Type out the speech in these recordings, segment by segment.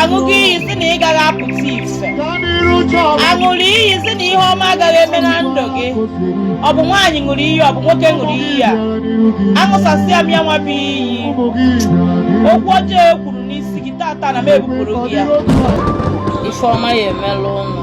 aṅụọ gị iyi sị na ị gaghị apụta ife a ṅụrụ iyi sị na ihe ọma agaghị eme na ndụ gị ọ bụ nwaanyị ṅụrụ iyi ọ bụ nwoke ṅụrụ iyi ya aṅụsasịa m ya nwa bụ iyi okwu ọjọọ e kwuru n'isi gị tata na m ebupụrụ gị ya ife ọma ya emelụ ụnụ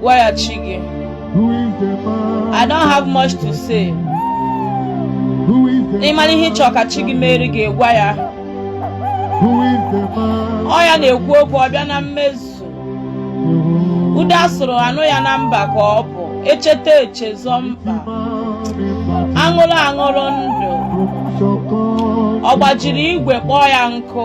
gwa ya chi gị I don't have much to say ị mara ihe ị chọ ka chi gị mere gị gwa ya ọ ya na-ekwu okwu ọ bịa na mmezu ude a sụrụ a nụ ya na mba ka ọ bụ echeta echezọ mkpa aṅụrụ aṅụrụ ndụ ọ gbajiri igwe kpọọ ya nkụ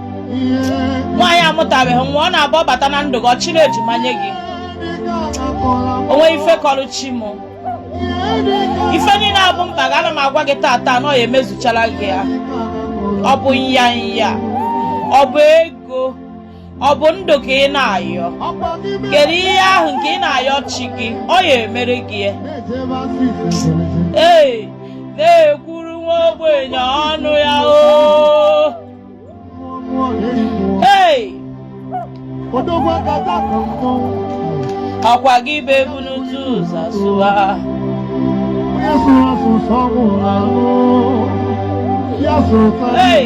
nwaanyị amụtabeghị nwa ọ na-abụ ọ bata na ndụ gị ọ chịrị ejima nye gị o nweghị ife kọrọ chi m ife niile a bụ mkpa gị ana m agwa gị tata na ọ ya emezuchara gị ya ọ bụ nya nya ọ bụ ego ọ bụ ndụ ka ị na-ayọ kedu ihe ahụ nke ị na-ayọ chi gị ọ ya emere gị ya ee na-ekwuru nwa ogbenye ọnụ ya o ọ kwa gị bụ ebu n'otu ụzọ sụwa Hey,